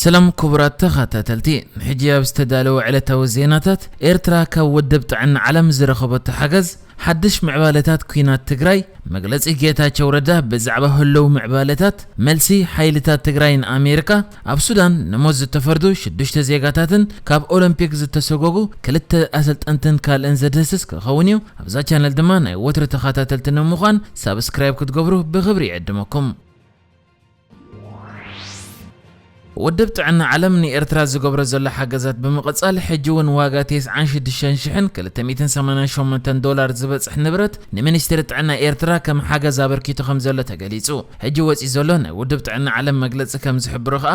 ሰላም ኩቡራት ተኻታተልቲ ሕጂ ኣብ ዝተዳለወ ዕለታዊ ዜናታት ኤርትራ ካብ ወድብ ጥዕና ዓለም ዝረኸበቶ ሓገዝ ሓድሽ ምዕባለታት ኩናት ትግራይ መግለጺ ጌታቸው ረዳ ብዛዕባ ህሎው ምዕባለታት መልሲ ሓይልታት ትግራይ ን ኣሜርካ ኣብ ሱዳን ንሞት ዝተፈርዱ ሽዱሽተ ዜጋታትን ካብ ኦሎምፒክ ዝተሰጎጉ ክልተ ኣሰልጠንትን ካልእን ዘድህስስ ክኸውን እዩ ኣብዛ ቻነል ድማ ናይ ወትሩ ተኻታተልቲ ንምዃን ሳብስክራይብ ክትገብሩ ብኽብሪ ይዕድመኩም። ውድብ ጥዕና ዓለም ንኤርትራ ዝገብሮ ዘሎ ሓገዛት ብምቕጻል ሕጂ እውን ዋጋ ቴስዓን ሽዱሽተን ሽሕን ክልተ ሚእትን ሰማንያን ሸሞንተን ዶላር ዝበጽሕ ንብረት ንሚኒስትሪ ጥዕና ኤርትራ ከም ሓገዝ ኣበርኪቱ ከም ዘሎ ተገሊጹ። ሕጂ ወጺኡ ዘሎ ናይ ውድብ ጥዕና ዓለም መግለጺ ከም ዝሕብሮ ከኣ፣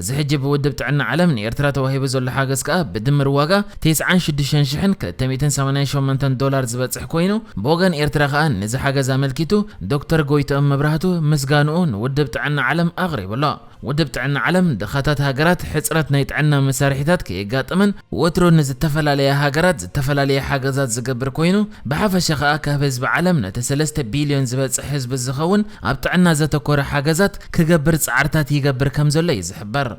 እዚ ሕጂ ብውድብ ጥዕና ዓለም ንኤርትራ ተዋሂቡ ዘሎ ሓገዝ ከኣ ብድምር ዋጋ ቴስዓን ሽዱሽተን ሽሕን ክልተ ሚእትን ሰማንያን ሸሞንተን ዶላር ዝበጽሕ ኮይኑ ብወገን ኤርትራ ከኣ ነዚ ሓገዝ ኣመልኪቱ ዶክተር ጎይትኦም መብራህቱ ምስጋንኡ ንውድብ ጥዕና ዓለም ኣቕሪቡ ኣሎ። ውድብ ጥዕና ዓለም ድኻታት ሃገራት ሕጽረት ናይ ጥዕና መሳርሒታት ከየጋጥመን ወትሩ ንዝተፈላለያ ሃገራት ዝተፈላለየ ሓገዛት ዝገብር ኮይኑ፣ ብሓፈሻ ከኣ ካብ ህዝቢ ዓለም ነቲ ሰለስተ ቢልዮን ዝበጽሕ ህዝቢ ዝኸውን ኣብ ጥዕና ዘተኮረ ሓገዛት ክገብር ጻዕርታት ይገብር ከም ዘሎ እዩ ዝሕበር።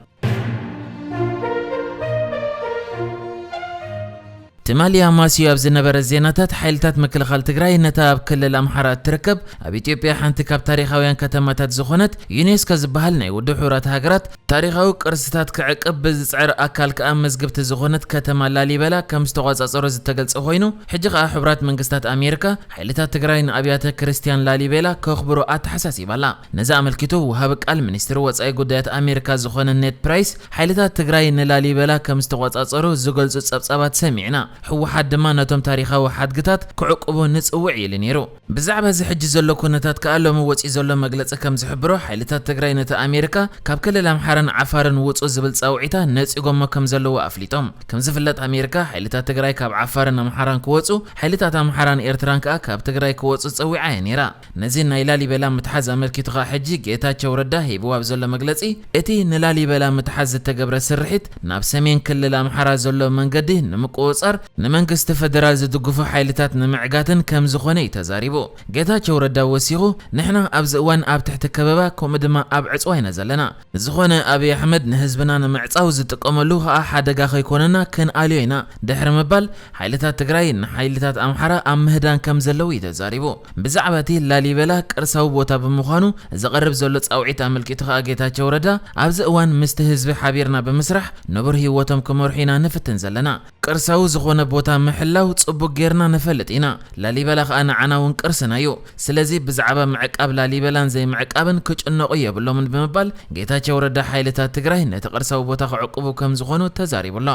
ትማሊ ኣማስዩ ኣብ ዝነበረ ዜናታት ሓይልታት ምክልኻል ትግራይ ነታ ኣብ ክልል ኣምሓራ እትርከብ ኣብ ኢትዮጵያ ሓንቲ ካብ ታሪኻውያን ከተማታት ዝኾነት ዩኔስኮ ዝበሃል ናይ ውድብ ሕቡራት ሃገራት ታሪኻዊ ቅርስታት ክዕቅብ ብዝጽዕር ኣካል ከኣ መዝግብቲ ዝኾነት ከተማ ላሊበላ ከም ዝተቖጻጸሮ ዝተገልጸ ኮይኑ፣ ሕጂ ከኣ ሕቡራት መንግስታት ኣሜሪካ፣ ሓይልታት ትግራይ ንኣብያተ ክርስትያን ላሊቤላ ከኽብሩ ኣተሓሳሲባ ኣላ። ነዚ ኣመልኪቱ ወሃቢ ቃል ሚኒስትሪ ወጻኢ ጉዳያት ኣሜሪካ ዝኾነ ኔድ ፕራይስ፣ ሓይልታት ትግራይ ንላሊበላ ከም ዝተቖጻጸሩ ዝገልጹ ጸብጻባት ሰሚዕና፣ ህወሓት ድማ ነቶም ታሪኻዊ ሓድግታት ክዕቅቡ ንጽውዕ ኢሉ ነይሩ። ብዛዕባ እዚ ሕጂ ዘሎ ኩነታት ከኣ ሎሚ ወጺኡ ዘሎ መግለጺ ከም ዝሕብሮ ሓይልታት ትግራይ ነቲ ኣሜሪካ ካብ ክልል ኣምሓራን ዓፋርን ውጹ ዝብል ጻውዒታ ነጺጎሞ ከም ዘለዉ ኣፍሊጦም። ከም ዝፍለጥ ኣሜሪካ ሓይልታት ትግራይ ካብ ዓፋርን ኣምሓራን ክወጹ ሓይልታት ኣምሓራን ኤርትራን ከኣ ካብ ትግራይ ክወጹ ጸዊዓ እያ ነይራ። ነዚ ናይ ላሊበላ ምትሓዝ ኣመልኪቱ ከኣ ሕጂ ጌታቸው ረዳ ሂብዎ ኣብ ዘሎ መግለጺ እቲ ንላሊበላ ምትሓዝ ዝተገብረ ስርሒት ናብ ሰሜን ክልል ኣምሓራ ዘሎ መንገዲ ንምቁጽጻር ንመንግስቲ ፈደራል ዝድግፉ ሓይልታት ንምዕጋትን ከምዝኾነ እዩ ተዛሪቡ። ጌታቸው ረዳ ወሲኹ፣ ንሕና ኣብዚ እዋን ኣብ ትሕቲ ከበባ ከምኡ ድማ ኣብ ዕፅዋ ኢና ዘለና። ዝኾነ ኣብይ ኣሕመድ ንህዝብና ንምዕፃው ዝጥቀመሉ ከዓ ሓደጋ ከይኮነና ክንኣልዮ ኢና ድሕሪ ምባል ሓይልታት ትግራይ ንሓይልታት ኣምሓራ ኣብ ምህዳን ከምዘለው እዩ ተዛሪቡ። ብዛዕባ እቲ ላሊበላ ቅርሳዊ ቦታ ብምዃኑ ዝቐርብ ዘሎ ፃውዒት ኣመልኪቱ ከዓ ጌታቸው ረዳ ኣብዚ እዋን ምስቲ ህዝቢ ሓቢርና ብምስራሕ ንቡር ህይወቶም ክመርሑ ኢና ንፍትን ዘለና። ቅርሳዊ ዝኾነ ቦታ ምሕላው ጽቡቅ ጌርና ንፈልጥ ኢና ላሊበላ ከኣ ንዓና ውን ቅርስና እዩ ስለዚ ብዝዓባ ምዕቃብ ላሊበላን ዘይምዕቃብን ክጭነቁ የብሎምን ብምባል ጌታቸው ረዳ ሓይልታት ትግራይ ነቲ ቅርሳዊ ቦታ ክዕቁቡ ከምዝኾኑ ተዛሪቡ ኣሎ።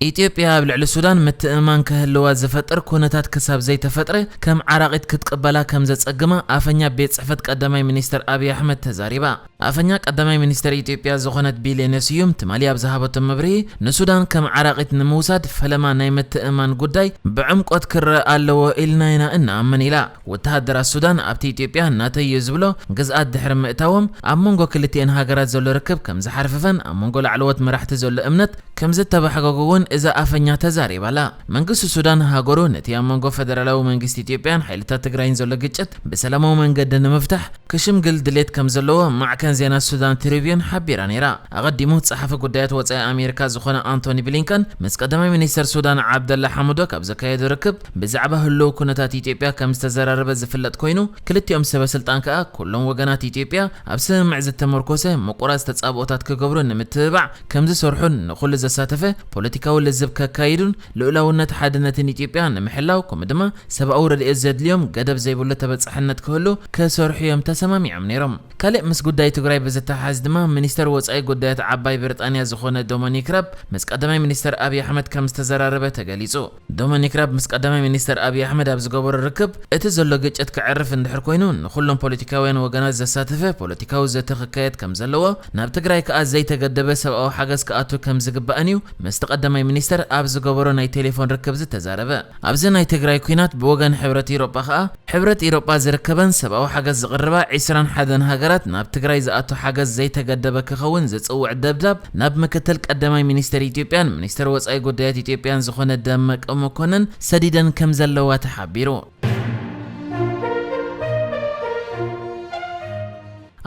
ኢትዮጵያ ኣብ ልዕሊ ሱዳን ምትእምማን ክህልዋ ዝፈጥር ኩነታት ክሳብ ዘይተፈጥረ ከም ዓራቒት ክትቅበላ ከም ዘጸግማ ኣፈኛ ቤት ጽሕፈት ቀዳማይ ሚኒስተር ኣብዪ ኣሕመድ ተዛሪባ። ኣፈኛ ቀዳማይ ሚኒስተር ኢትዮጵያ ዝኾነት ቢሌኔ ስዩም ትማሊ ኣብ ዝሃበቶ መብርሂ ንሱዳን ከም ዓራቒት ንምውሳድ ፈለማ ናይ ምትእምማን ጉዳይ ብዕምቆት ክረኣ ኣለዎ ኢልና ኢና እንኣምን ኢላ። ወተሃደራት ሱዳን ኣብቲ ኢትዮጵያ ናተይ'ዩ ዝብሎ ግዝኣት ድሕሪ ምእታዎም ኣብ መንጎ ክልቲኤን ሃገራት ዘሎ ርክብ ከም ዝሓርፍፈን ኣብ መንጎ ላዕለዎት መራሕቲ ዘሎ እምነት ከምዝተባሕጎጉ'ውን እዛ ኣፈኛ ተዛሪባ ኣላ። መንግስቲ ሱዳን፣ ሃገሩ ነቲ ኣብ መንጎ ፈደራላዊ መንግስቲ ኢትዮጵያን ሓይልታት ትግራይን ዘሎ ግጭት ብሰላማዊ መንገዲ ንምፍታሕ ክሽምግል ድሌት ከምዘለዎ ማዕከን ዜና ሱዳን ትሪብዩን ሓቢራ ነይራ። ኣቐዲሙ ጸሓፊ ጉዳያት ወጻኢ ኣሜሪካ ዝዀነ ኣንቶኒ ብሊንከን ምስ ቀዳማይ ሚኒስተር ሱዳን ዓብደላ ሓምዶክ ኣብ ዘካየዶ ርክብ ብዛዕባ ህሉው ኵነታት ኢትዮጵያ ከምዝተዘራረበ ዝፍለጥ ኰይኑ፣ ክልቲኦም ሰበስልጣን ከኣ ኵሎም ወገናት ኢትዮጵያ ኣብ ስምምዕ ዝተመርኰሰ ምቍራጽ ተጻብኦታት ክገብሩ ንምትብባዕ ከምዝሰርሑን ንኹሉ ዘሳተፈ ፖለቲካዊ ልዝብ ከካይዱን ልኡላውነት ሓድነትን ኢትዮጵያ ንምሕላው ከምኡ ድማ ሰብኣዊ ረድኤት ዘድልዮም ገደብ ዘይብሉ ተበፃሕነት ክህሉ ክሰርሑ እዮም ተሰማሚዖም ነይሮም። ካሊእ ምስ ጉዳይ ትግራይ ብዝተሓሓዝ ድማ ሚኒስተር ወፃኢ ጉዳያት ዓባይ ብሪጣንያ ዝኾነ ዶሞኒክ ራብ ምስ ቀዳማይ ሚኒስተር ኣብይ ኣሕመድ ከምዝተዘራረበ ተገሊፁ። ዶመኒክ ራብ ምስ ቀዳማይ ሚኒስተር ኣብይ ኣሕመድ ኣብ ዝገበሮ ርክብ፣ እቲ ዘሎ ግጭት ከዕርፍ እንድሕር ኮይኑ ንኹሎም ፖለቲካውያን ወገናት ዘሳተፈ ፖለቲካዊ ዘተ ክካየድ ከምዘለዎ፣ ናብ ትግራይ ከኣ ዘይተገደበ ሰብኣዊ ሓገዝ ክኣቱ ከምዝግባእን እዩ ምስቲ ቀዳማይ ሚኒስተር ኣብ ዝገበሮ ናይ ቴሌፎን ርክብ ዝተዛረበ። ኣብዚ ናይ ትግራይ ኲናት ብወገን ሕብረት ኢሮጳ ከኣ፣ ሕብረት ኢሮጳ ዝርከበን ሰብኣዊ ሓገዝ ዝቕርባ ዕስራን ሓደን ሃገራት ናብ ትግራይ ዝኣቱ ሓገዝ ዘይተገደበ ክኸውን ዝጽውዕ ደብዳብ ናብ ምክትል ቀዳማይ ሚኒስተር ኢትዮጵያን ሚኒስተር ወጻኢ ጉዳያት ኢትዮጵያን ዝኾነ ደመቀ መኮንን ሰዲደን ከምዘለዋ ተሓቢሩ።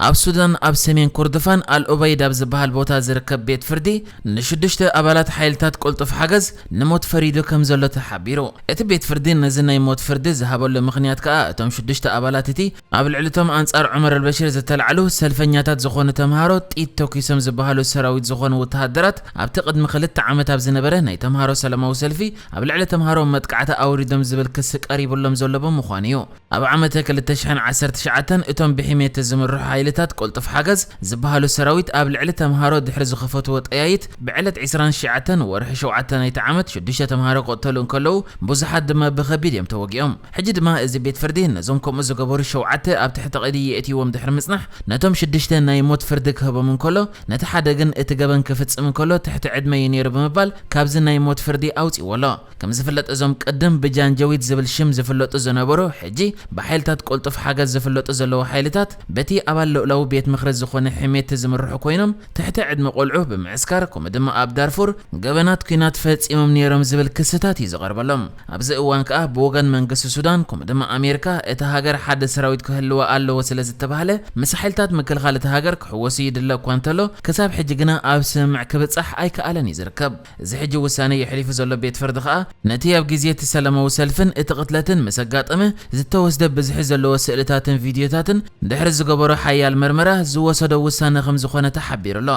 ኣብ ሱዳን ኣብ ሰሜን ኮርዶፋን ኣል ኡበይድ ኣብ ዝበሃል ቦታ ዝርከብ ቤት ፍርዲ ንሽዱሽተ ኣባላት ሓይልታት ቅልጡፍ ሓገዝ ንሞት ፈሪዱ ከም ዘሎ ተሓቢሩ። እቲ ቤት ፍርዲ ነዚ ናይ ሞት ፍርዲ ዝሃበሉ ምኽንያት ከኣ እቶም ሽዱሽተ ኣባላት እቲ ኣብ ልዕሊ'ቶም ኣንጻር ዑመር ኣልበሽር ዝተላዕሉ ሰልፈኛታት ዝኾኑ ተምሃሮ ጥይት ተኲሶም ዝበሃሉ ሰራዊት ዝኾኑ ውተሃደራት ኣብቲ ቅድሚ ክልተ ዓመት ኣብ ዝነበረ ናይ ተምሃሮ ሰላማዊ ሰልፊ ኣብ ልዕሊ ተምሃሮ መጥቃዕቲ ኣውሪዶም ዝብል ክሲ ቀሪቡሎም ዘሎ ብምዃኑ'ዩ። ኣብ ዓመተ ክልተ ሽሕን ዓሰርተ ትሽዓተን እቶም ብሒሜቲ ዝምርሑ ሓይልታት ቅልጡፍ ሓገዝ ዝበሃሉ ሰራዊት ኣብ ልዕሊ ተምሃሮ ድሕሪ ዝኸፈትዎ ጠያይት ብዕለት ዕስራን ሽዓተን ወርሒ ሸውዓተ ናይቲ ዓመት ሽዱሽተ ተምሃሮ ክቕተሉ እንከለዉ ብዙሓት ድማ ብኸቢድ እዮም ተወጊኦም። ሕጂ ድማ እዚ ቤት ፍርዲ ነዞም ከምኡ ዝገበሩ ሸውዓተ ኣብ ትሕቲ ቀይዲ የእትይዎም ድሕሪ ምጽናሕ ነቶም ሽዱሽተ ናይ ሞት ፍርዲ ክህቦም እንከሎ ነቲ ሓደ ግን እቲ ገበን ክፍጽም እንከሎ ትሕቲ ዕድመ እዩ ነይሩ ብምባል ካብዚ ናይ ሞት ፍርዲ ኣውጺእዎ ኣሎ። ከም ዝፍለጥ እዞም ቅድም ብጃንጀዊድ ዝብል ሽም ዝፍለጡ ዝነበሩ ሕጂ ብሓይልታት ቅልጡፍ ሓገዝ ዝፍለጡ ዘለዉ ሓይልታት በቲ ኣባል ሉእላዊ ቤት ምኽሪ ዝኾነ ሒሜቲ ዝምርሑ ኮይኖም ትሕቲ ዕድመ ቆልዑ ብምዕስካር ከምኡ ድማ ኣብ ዳርፉር ገበናት ኩናት ፈጺሞም ኔሮም ዝብል ክስታት እዩ ዝቐርበሎም። ኣብዚ እዋን ከኣ ብወገን መንግስቲ ሱዳን ከምኡ ድማ ኣሜርካ እታ ሃገር ሓደ ሰራዊት ክህልዋ ኣለዎ ስለ ዝተባህለ ምስ ሓይልታት ምክልኻል እታ ሃገር ክሕወሱ ይድለ እኳ እንተሎ ክሳብ ሕጂ ግና ኣብ ስምምዕ ክብጻሕ ኣይከኣለን እዩ ዝርከብ። እዚ ሕጂ ውሳኔ የሕሊፉ ዘሎ ቤት ፍርዲ ከኣ፣ ነቲ ኣብ ግዜ እቲ ሰለማዊ ሰልፍን እቲ ቅትለትን ምስ ኣጋጠመ ዝተወስደ ብዝሒ ዘለዎ ስእልታትን ቪድዮታትን ድሕሪ ዝገበሮ ሓያል መርመራ ዝወሰዶ ውሳነ ከም ዝኾነ ተሓቢሩ ኣሎ።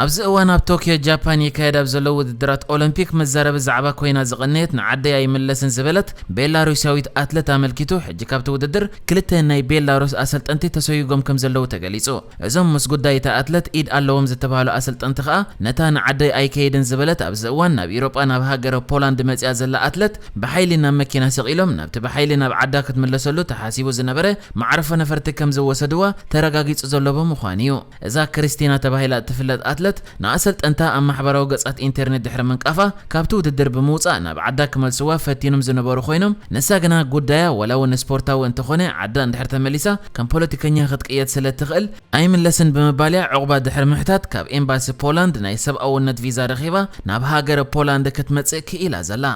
ኣብዚ እዋን ኣብ ቶክዮ ጃፓን ይካየድ ኣብ ዘሎ ውድድራት ኦሎምፒክ መዛረቢ ዛዕባ ኮይና ዝቐነየት ንዓደይ ኣይምለስን ዝበለት ቤላሩስያዊት ኣትለት ኣመልኪቱ ሕጂ ካብቲ ውድድር ክልተ ናይ ቤላሩስ ኣሰልጠንቲ ተሰጉጎም ከምዘለዉ ተገሊጹ። እዞም ምስ ጉዳይ እታ ኣትለት ኢድ ኣለዎም ዝተባህሉ ኣሰልጠንቲ ከኣ፣ ነታ ንዓደይ ኣይከይድን ዝበለት ኣብዚ እዋን ናብ ኢሮጳ ናብ ሃገረ ፖላንድ መጺኣ ዘላ ኣትለት ብሓይሊ ናብ መኪና ሰቒሎም ናብቲ ብሓይሊ ናብ ዓዳ ክትምለሰሉ ተሓሲቡ ዝነበረ መዓርፎ ነፈርቲ ከምዝወሰድዋ ተረጋጊጹ ዘሎ ብምዃኑ'ዩ። እዛ ክሪስቲና ተባሂላ እትፍለጥ ኣትለት፣ ንኣሰልጠንታ ኣብ ማሕበራዊ ገጻት ኢንተርኔት ድሕሪ ምንቃፋ፣ ካብቲ ውድድር ብምውጻእ ናብ ዓዳ ክመልስዋ ፈቲኖም ዝነበሩ ኮይኖም፣ ንሳ ግና ጉዳያ ዋላ'ውን ስፖርታዊ እንተኾነ ዓዳ እንድሕር ተመሊሳ ከም ፖለቲከኛ ክትቅየድ ስለ እትኽእል ኣይምለስን ብምባል'ያ ዑቕባ ድሕሪ ምሕታት ካብ ኤምባሲ ፖላንድ ናይ ሰብኣውነት ቪዛ ረኺባ ናብ ሃገረ ፖላንድ ክትመጽእ ክኢላ ዘላ።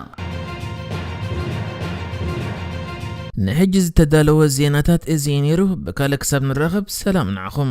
ንሕጂ ዝተዳለወ ዜናታት እዚ እዩ ነይሩ ብካልእ ክሳብ ንራኸብ ሰላም ንዓኹም።